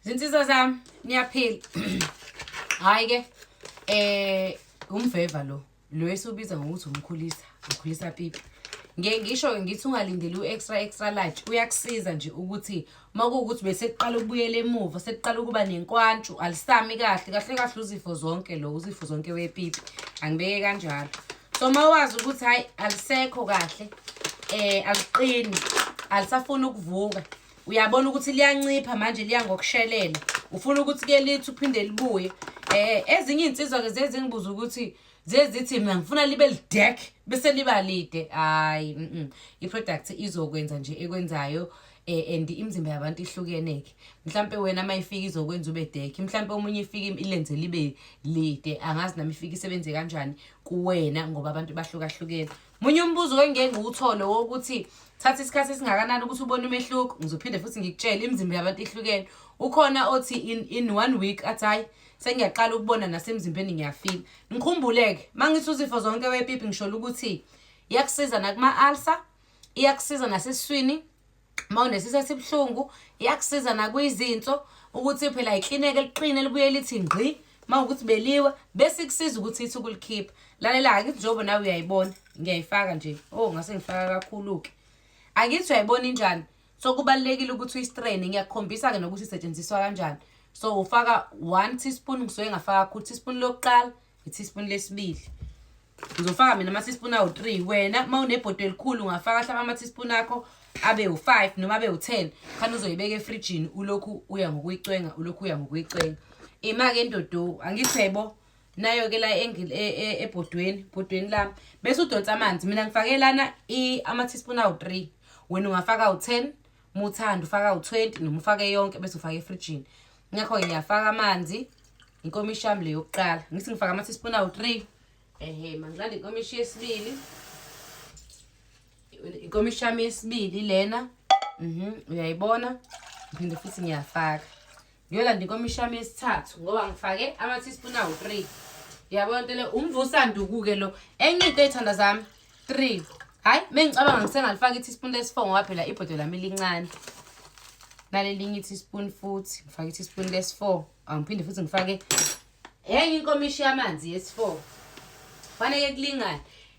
zinsizwa zami niyaphila hhayi ke eh umveva lo lo esubiza ngokuthi umkhulisa ukhulisa pipi ngeke ngisho ke ngithi ungalindeli u-extra extra large uyakusiza nje ukuthi uma kuwukuthi besekuqala ukubuyela emuva sekuqala ukuba nenkwantshu alisami kahle kahle kahle uzifo zonke lo uzifo zonke wepipi angibeke kanjalo so uma wazi ukuthi hhayi alisekho kahle um aliqini alisafuni ukuvuka uyabona ukuthi liyancipha manje liya ngokushelela ufuna ukuthi ke lithi uphinde libuye eh ezinye insizwa ke zezingibuza ukuthi zezithi mina ngifuna libe lidek bese liba lide hayi mm -mm. i product izokwenza nje ekwenzayo eh and imizimba yabantu ihlukene ke mhlambe wena mayifika izokwenza ube deck mhlambe omunye ifika ilenze libe lide angazi nami ifika isebenze kanjani kuwena ngoba abantu bahlukahlukene Munye umbuzo engeke ngiwuthole wokuthi thatha isikhathi esingakanani ukuthi ubone umehluko ngizophinde futhi ngikutshele imizimba yabantu ihlukene ukhona othi in, in one week athi hhayi sengiyaqala ukubona nasemzimbeni ngiyafila ngikhumbuleke uma ngithi uzifo zonke wepipi ngisholo ukuthi iyakusiza nakuma-alsa iyakusiza nasesiswini uma unesisi esibuhlungu iyakusiza nakwizinso ukuthi phela iklineke eliqine libuye lithi ngqi uma ukuthi beliwe bese ikusiza ukuthi ithi ukulikhipha lalela-ke ngithi njengoba nawe uyayibona ngiyayifaka nje oh ngase ngifaka kakhulu-ke angithi uyayibona injani so kubalulekile ukuthi uyistrene ngiyakukhombisa-ke nokuthi isetshenziswa kanjani so ufaka one teaspoon ngisuke ngafaka kakhulu teaspoon lokuqala iteaspoon lesibili ngizofaka mina ama-teaspoon awu-three wena uma unebhodo elikhulu ungafaka hlaba ama-teaspoon akho abe u-five noma abe u-ten khani uzoyibeka efrijini ulokhu uya ngokuyicwenga ulokhu uya ngokuyicwenga ima-ke endodowu angithebo nayo-ke la e, e, ebhodweni bhodweni lami bese udonsa amanzi mina ngifake lana ama-teaspoon awu-three wena ungafaka u-ten uma uthanda ufaka u-20 noma ufake yonke bese ufaka efrijini ngakho-ke ngiyafaka amanzi inkomishi yami le yokuqala ngithi ngifaka ama-teaspoon awu-three ehe mangiqale inkomishi yesibili inkomishi yami yesibili lena mhm uyayibona ngiphinde futhi ngiyafaka ngiyolanda inkomishi yami yesithathu ngoba ngifake ama-teaspoon awu-three yabona nto le umvusanduku-ke lo enye into ey'thanda zami three hhayi uma ngicabanga ngisengalifaka i-teaspoon lesi-four ngoba phela ibhodo lami lincane nalelinye i-teaspoon futhi ngifake i-teaspoon lesi-four angiphinde futhi ngifake enye inkomishi yamanzi yesi-four faneke kulingane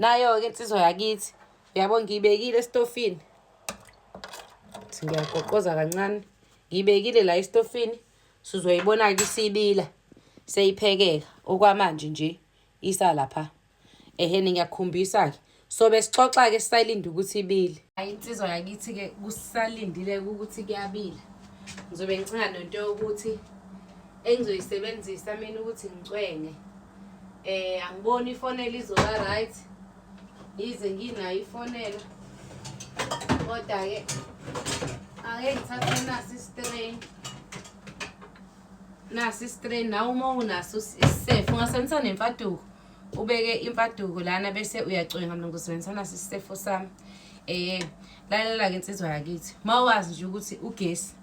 nayo-ke insizwa yakithi uyabo ngiyibekile esitofini ukuthi ngiyagoqoza kancane ngiyibekile la esitofini sizoyibona-ke isibila seyiphekeka okwamanje nje isa lapha ehene ngiyakukhombisa-ke so besixoxa-ke sisalinde ukuthi ibile hayi insizwa yakithi-ke kusalindile ukuthi kuyabila ngizobe ngicinga nento yokuthi engizoyisebenzisa mina ukuthi ngicwenge Eh angiboni ifonela izoba right. Yize nginayo ifonela. Kodwa ke ake ngithathe nasi strain. Nasi strain nawe uma unaso isisefo ungasebenzisa nemfaduko. Ubeke imfaduko lana bese uyacwenga mina ngizosebenzisa nasi isisefo sami. Eh lalela ke insizwa yakithi. Mawazi nje ukuthi ugesi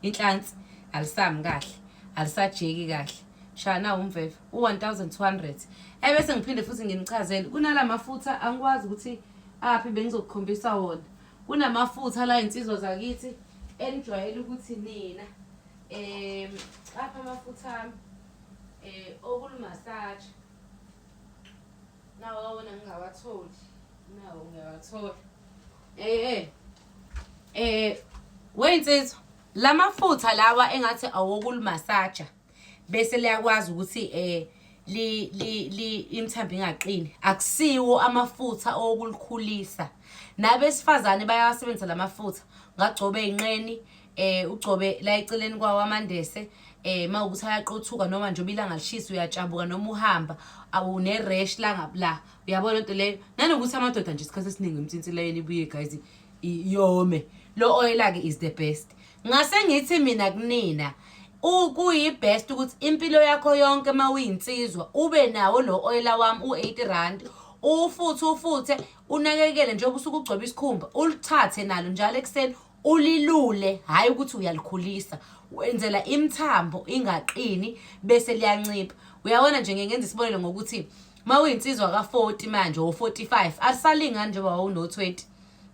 inhlansi alisami kahle. Alisajeki kahle. shaya nawo umveve u-1200 ebese ngiphinde futhi nginichazele kunala mafutha angikwazi ukuthi aphi bengizokukhombisa wona kunamafutha la insizwa zakithi enijwayele ukuthi nina um apha amafutha ami um okulumasaje nawo awona ngingawatholi nawo ngiyawathola um eh, um eh, um weyinsizwa la mafutha lawa engathi awokulumasaja bese liyakwazi ukuthi eh li li li imthambi ingaqini akusiwo amafutha okulikhulisa nabesifazane bayawasebenzisa lamafutha ngagcobe inqeni eh ugcobe la eceleni kwawo amandese eh mawukuthi ayaqothuka noma nje obilanga lishisa uyatshabuka noma uhamba awune rash la ngabla uyabona into leyo nanokuthi amadoda nje isikhathi esiningi imtsinsi leyo ibuye guys iyome lo oil ake is the best Ngase ngithi mina kunina kuyibest ukuthi impilo yakho yonke uma uyinsizwa ube nawo lo oyela wami u-80 rand uwufuthe ufuthe unakekele njengoba usuke ugcoba isikhumba ulithathe nalo njalo ekuseni ulilule hhayi ukuthi uyalikhulisa wenzela imithambo ingaqini bese liyancipha uyabona nje ngeke ngenza isibonelo ngokuthi uma uyinsizwa ka-40 manje wo-45 alisalingani njengoba wawuno-20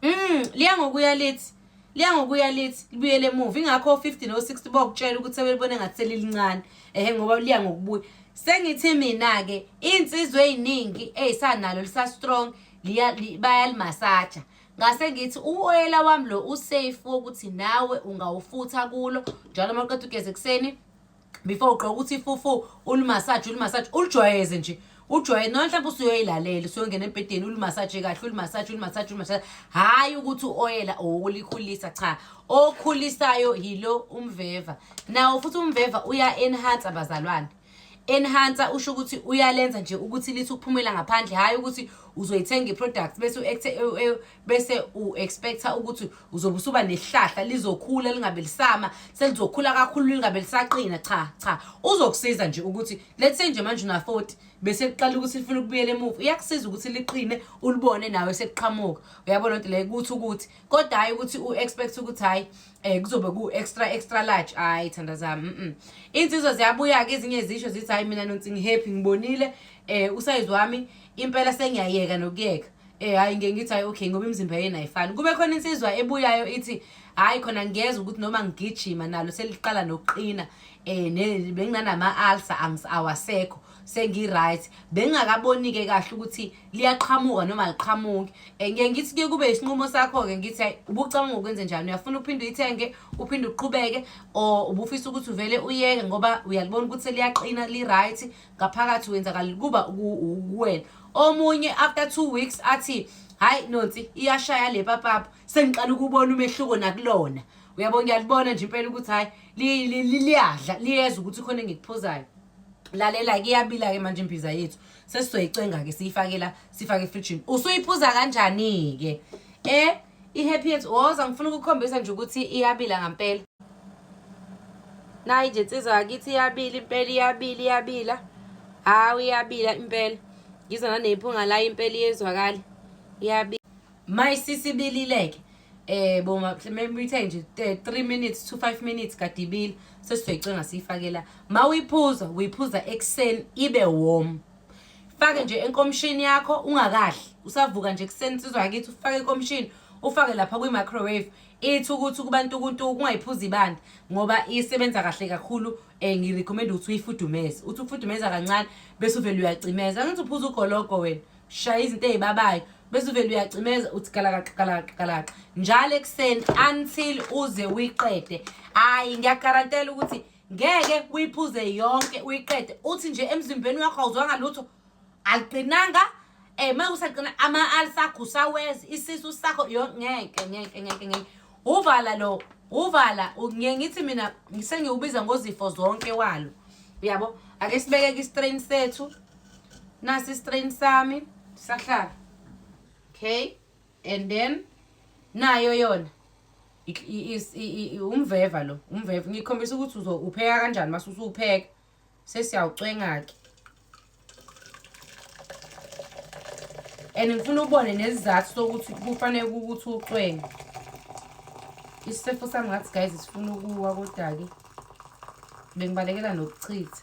um liya ngokuya lithi liya ngokuya lithi libuyele emuva ingakho o-50 no-60 bokutshela ukuthi sebelibone ngathi selilincane ehe ngoba liya ngokubuya sengithi mina-ke iy'nsizwa ey'ningi ey'sanalo lisa-strong bayalimasaja ngase ngithi uwoyela wami lo usafe wokuthi nawe ungawufutha kulo njalo uma uqeda ugeze ekuseni before ugqoka ukuthi ifufu ulimasaje ulimasaje ulijwayeze nje ujwayele noma mhlawumbe usuyoyilalela usuyongena embhedeni ulimasaje kahle ulimasaje ulimasaje ulimasaje hhayi ukuthi u-oyela owukulikhulisa cha okhulisayo yilo umveva nawo futhi umveva uya-enhansa bazalwane enhansa usho ukuthi uyalenza nje ukuthi lithi ukuphumela ngaphandle hhayi ukuthi uzoyithenga i-product bese u-act bese u-expecta ukuthi uzobe usuba nehlahla lizokhula lingabe lisama selizokhula kakhulu lingabe lisaqina cha cha uzokusiza nje ukuthi let's say nje manje una-40 bese kuqala ukuthi lifuna ukubuyela emuva uyakusiza ukuthi liqine ulibone nawe sekuqhamuka uyabona lento leyo ukuthi ukuthi kodwa hhayi ukuthi u-expect ukuthi hhayi um kuzobe ku-extra extra large hhayi thanda zami mm iy'nsizwa ziyabuya-ke ezinye zisho zithi hhayi mina nonsingihappy ngibonile um usayizi wami impela sengiyayeka nokuyeka Eh hayi ngeke ngithi hayi okay ngoba imizimba yenu ayifani. Kube khona insizwa ebuyayo ithi hayi khona ngiyezwa ukuthi noma ngigijima nalo seliqala nokuqina eh ne- benginanama ulcer angis awasekho sengi-right bengingakaboni-ke kahle ukuthi liyaqhamuka noma aliqhamuki um ngiye ngithi kuye kube isinqumo sakho-ke ngithi hayi ubucabanga ukwenze njani uyafuna uphinde uyithenge uphinde uqhubeke or ubufisa ukuthi uvele uyeke ngoba uyalibona ukuthi seliyaqina li-right ngaphakathi wenzakala kuba kuwena omunye after two weeks athi hayi nonsi iyashaya le papapa sengiqala ukubona umehluko nakulona uyabo ngiyalibona nje impela ukuthi hayi liyadla liyeza ukuthi khona engikuphuzayo lalela-ke iyabila-ke manje imbiza yethu sesizoyicenga-ke siyifakela sifake efrijini usuyiphuza kanjani-ke um I-happy yethu woza ngifuna ukukhombisa nje ukuthi iyabila ngampela nayi nje nsizwa yakithi iyabila impela iyabila iyabila hawu iyabila impela ngizwa nanephunga layo impela iyezwakala iyabila my sisibilileke eh bo memuyithe nje 3 minutes to 5 minutes kadibile sesizoyicenga siyifakela mawuyiphuza uyiphuza ekseni ibe warm fake nje enkomishini yakho ungakadli usavuka nje kuseni insizwa yakithi ufake enkomishini ufake lapha kwi-microwave ithi ukuthi kubantu ukuntu kungayiphuzi ibanda ngoba isebenza kahle kakhulu um ngirecommenda ukuthi uyifudumeze uthi ukufudumeza kancane bese uvele uyacimeza angithi uphuza ugologo wena shaya izinto ey'babayo bese uvele uyacimeza uthi galakaqa galakaqa galakaqa njalo ekuseni until uze uyiqede hhayi ngiyagarantela ukuthi ngeke uyiphuze yonke uyiqede uthi nje emzimbeni wakho awuzwanga lutho aliqinanga eh uma usaqina ama-ali sakho usawezi isisu sakho yo ngeke ngeke ngeke ngeke uvala lo uvala ngiye ngithi mina sengiwubiza ngozifo zonke walo uyabo ake sibekeke istrain sethu nasi istrain sami sahlala okay and then nayo yona umveva lo umveva ngikhombisa ukuthi uzopheka kanjani mase usupheka sesiyawucwenga-ke and ngifuna ubone nesizathu sokuthi kufanele ukuthi ucwenge isifefo sami ngathi guys sifuna ukuwa kodwa-ke bengibalekela nokuchitha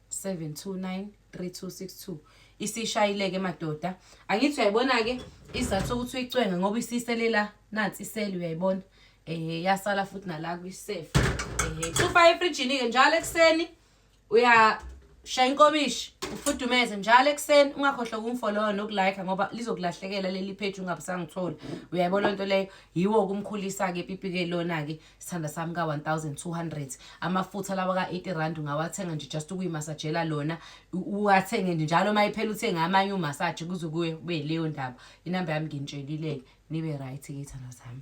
7293262 isishayileke madoda angithi uyayibona ke izathu sokuthi uyicwenge ngoba isiselela nansi iseli uyayibona eh yasala futhi nala kwisafe eh ufa efrijini ke njalo ekseni uya shaya inkomishi ufudumeze njalo ekseni ungakhohlwa ukumfollowa nokulike ngoba lizokulahlekela leli page ungabusangithola uyayibona lento leyo yiwo kumkhulisa ke pipi ke lona ke sithanda sami ka-1200 amafutha lawa ka-80 rand ungawathenga nje just ukuyimasajela lona uwathenge nje njalo uma iphela uthenge amanye umasaje kuze kube leyo ndaba inamba yami nginitshelile-ke nibe right-ke ithanda zami